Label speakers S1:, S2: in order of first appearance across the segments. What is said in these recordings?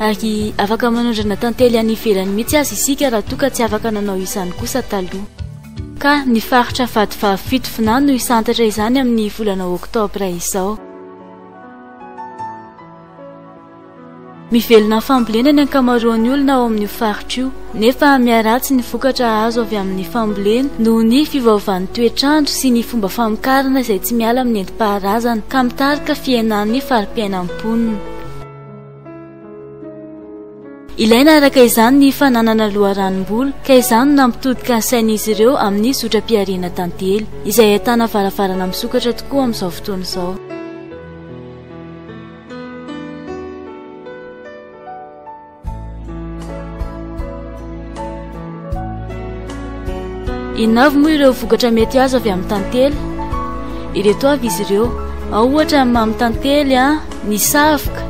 S1: Ary afaka manondrana tantely any ivelany mihitsy aza isika raha toa ka tsy afaka nanao izany kosa taloha. Ka ny faritra vady fahafito fna no hisantatra izany amin'ny volana oktobra izao. Mivelona amin'ny fambolena ny ankamaroan'ny olona ao amin'io faritra io, nefa miharatsy ny vokatra azo avy amin'ny fambolena noho ny fiovaovan'ny toetr'andro sy ny fomba famokarana izay tsy miala amin'ny nentim-paharazana ka mitarika fihenan'ny fari-piainan'ny mponina. Ilaina araka izany ny fananana loharanom-bolo ka izany no nampitodika ny sain'izy ireo amin'ny zotram-pihariana tantely, izay ahitana varavarana misokatra tokoa amin'izao fotoana izao. Inona avy moa ireo vokatra mety azo avy amin'ny tantely? Ireto avy izy ireo. Ao ohatra ny mamy tantely, ny savoka,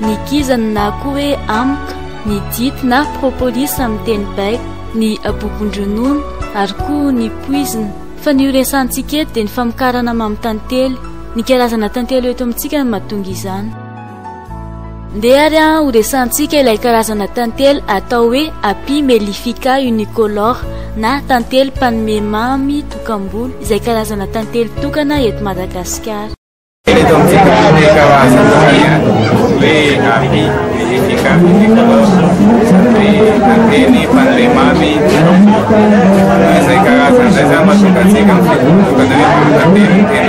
S1: ny kizana na koa hoe amoka, ny dity na propolis amin'ny teny baiko, ny abobon-dronono ary koa ny poizina. Fa ny ho resahantsika eto dia ny famokarana mamy tantely. Ny karazana tantely ho eto amintsika no mahatonga izany. Ndeha ary an ho resahantsika ilay karazana tantely atao hoe Apis mellifica unicolor na tantely mpanome mamy tokam-bolo izay karazana tantely tokana eto Madagasikara. Eto amintsika misy ny karazana hoe
S2: Apis mellifica unicolor izay tantely mpanome mamy tokam-bolo. Izay karazana izay izany mahatonga antsika mifidy manokana hoe tantely tena.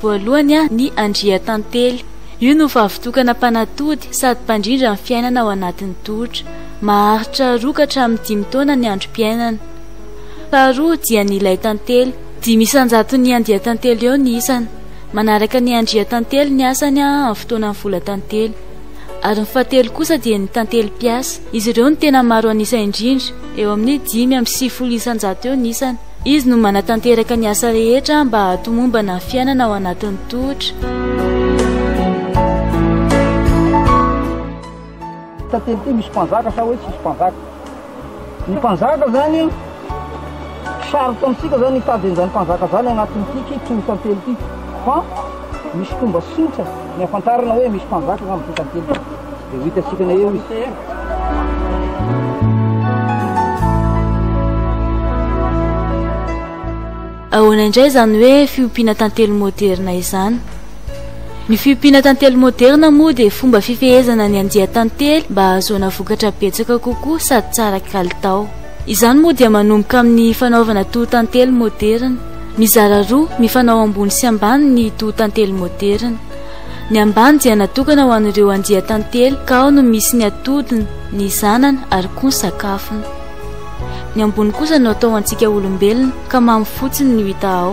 S1: Voalohany ny Andriantantely. Io no vavitokana mpanatody sady mpandrindra ny fiainana ao anatin'ny tohotra. Maharitra roa ka hatramin'ny dimy taona ny androm-piainana. Faharoa dia ny Laitantely. Dimy isan-jaton'ny Andiantantely eo ny isany. Manaraka ny Andriantantely ny asany amin'ny fotoanan'ny Volatantely. Ary ny fahatelo kosa dia ny Tantely mpiasa. Izy ireo no tena maro an'isa indrindra, eo amin'ny dimy amby sivifolo isan-jato eo ny isany. Izy no manatanteraka ny asa rehetra mba hahatomombana ny fiainana ao anatin'ny tohotra.
S3: tantely ity misy mpanjaka sa hoe tsisy mpanjaka ny mpanjaka zany sarotra amintsika zany hitady an'izany mpanjaka zany agnatin'ity ki toro tantely ity fa misy fomba sotra ny afantarana hoe misy mpanjaka agnatin'ity tantely ity Dia ho
S1: hita sikana eo izy. Ahoana indray izany hoe fiompiana tantely moderna izany? Ny fiompiana tantely moderna moa dia fomba fifehezana ny andian-tantely mba hahazoana vokatra betsaka kokoa sady tsara kalitao. Izany moa dia manomboka amin'ny fanaovana toho tantely moderna. Mizara roa, mifanao ambony sy ambany ny toho tantely moderna. Ny ambany dia natokana ho an'ireo andian-tantely ka ao no misy ny atodiny, ny zanany ary koa ny sakafony. Ny ambony kosa no atao ho antsika olombelona ka mamy fotsiny ny hita ao.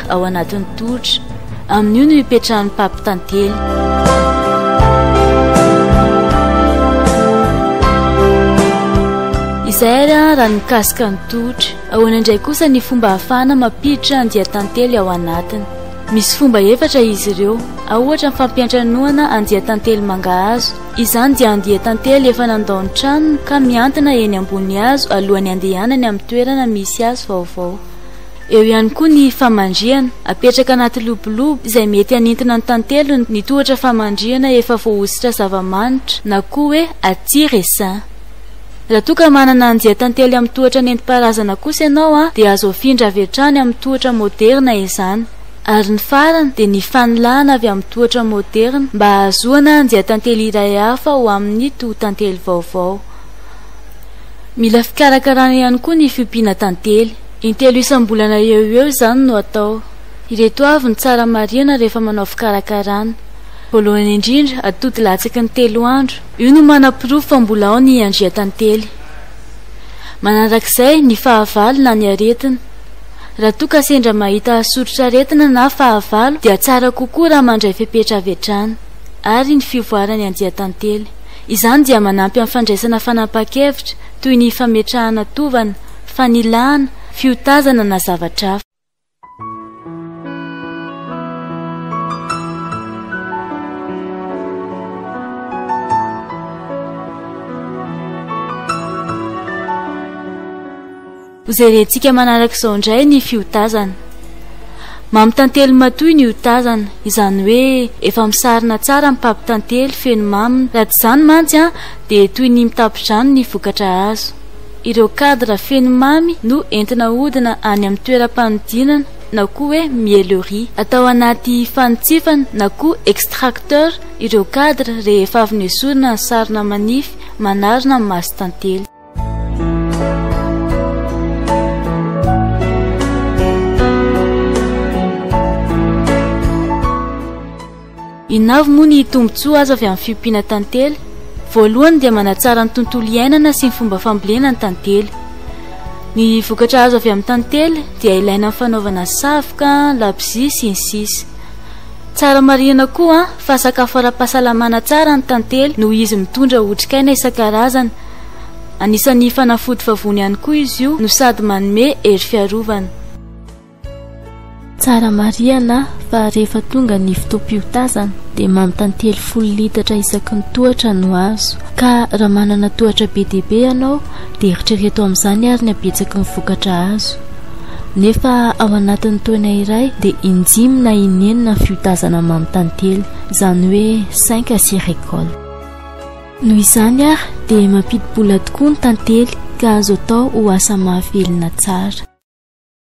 S1: ao anatin'ny tohotra. Amin'io no ipetrahan'ny papy tantely. Izay ary raha nikasika ny tohotra. Ahoana indray kosa ny fomba hahafahana mampiditra andian-tantely ao anatiny? Misy fomba efatra izy ireo. Ao ohatra ny fampiantranoana andian-tantely mangahazo. Izany dia andian-tantely efa nandao ny tranony ka mihantona eny ambony hazo alohan'ny handehanany amin'ny toerana misy hazo vaovao. Eo ihany koa ny famandrihana. Apetraka anaty lobolobo izay mety hanintina ny tantely ny tohatra famandrihana efa voahosotra zava-manitra na koa hoe aty resin. Raha toa ka manana andian-tantely amin'ny tohatra nentim-paharazana kosa ianao dia azo afindra avy hatrany amin'ny tohatra moderina izany. Ary ny farany dia ny fanilahana avy amin'ny tohatra moderina mba hahazoana andian-tantely iray hafa ho amin'ny tohon-tantely vaovao. Mila fikarakarana ihany koa ny fiompiana tantely. Intelo isam-bolana eo ho eo izany no atao. Ireto avy no tsara marihana rehefa manao fikarakarana. Voalohany indrindra, atody latsaky ny telo andro. Io no manaporofo fa mbola ao ny andriantantely. Manarak'izay, ny fahavalo na ny aretina. Raha toa ka sendra mahita soritr'aretina na fahavalo dia tsara kokoa raha mandray fepetra avy hatrany. Ary ny fivoaran'ny andiantantely. Izany dia manampy amin'ny fandraisana fanapahan-kevitra, toy ny fametrahana tovana, fanilahana, fiotazana na zavatra hafa. Hojerentsika manaraka izao indray ny fiotazana. Mamy tantely matoy ny otazana, izany hoe efa misarona tsara ny papy tantely feno mamy, raha tsy izany mantsy dia toy ny mitapy-drano ny vokatra azo. Ireo cadre feno mamy no entina ahodina any amin'ny toeram-panodinana na koa hoe miellerie. Atao anaty fanitsifana na koa extracteur ireo cadre rehefa avy nesorina ny sarona manify manarona ny mason-tantely. Inona avy moa ny tombontsoa azo avy amin'ny fiompiana tantely? Voalohany dia manatsara ny tontolo iainana sy ny fomba fambolena ny tantely. Ny vokatra azo avy amin'ny tantely dia ilaina amin'ny fanaovana savoka, labozia, sy ny sisa Tsara marihina koa fa sakafo ara-pahasalamana tsara ny tantely noho izy mitondra otrikaina isan-karazany. Anisan'ny fanafody vavony ihany koa izy io no sady manome hery fiarovana.
S4: Tsara marihana fa rehefa tonga ny fotoam-piotazana dia manontany telo folo litatra isaky ny tohatra no azo. Ka raha manana tohatra be dia be ianao dia eritrereto amin'izany ary ny habetsaky ny vokatra azo. Nefa ao anatin'ny taona iray dia indimy na inenina ny fiotazana manontany telo, izany hoe cinq à six récoltes. Noho izany ary dia mampidi-bola tokoa ny tantely ka azo atao ho asa mahavelona tsara.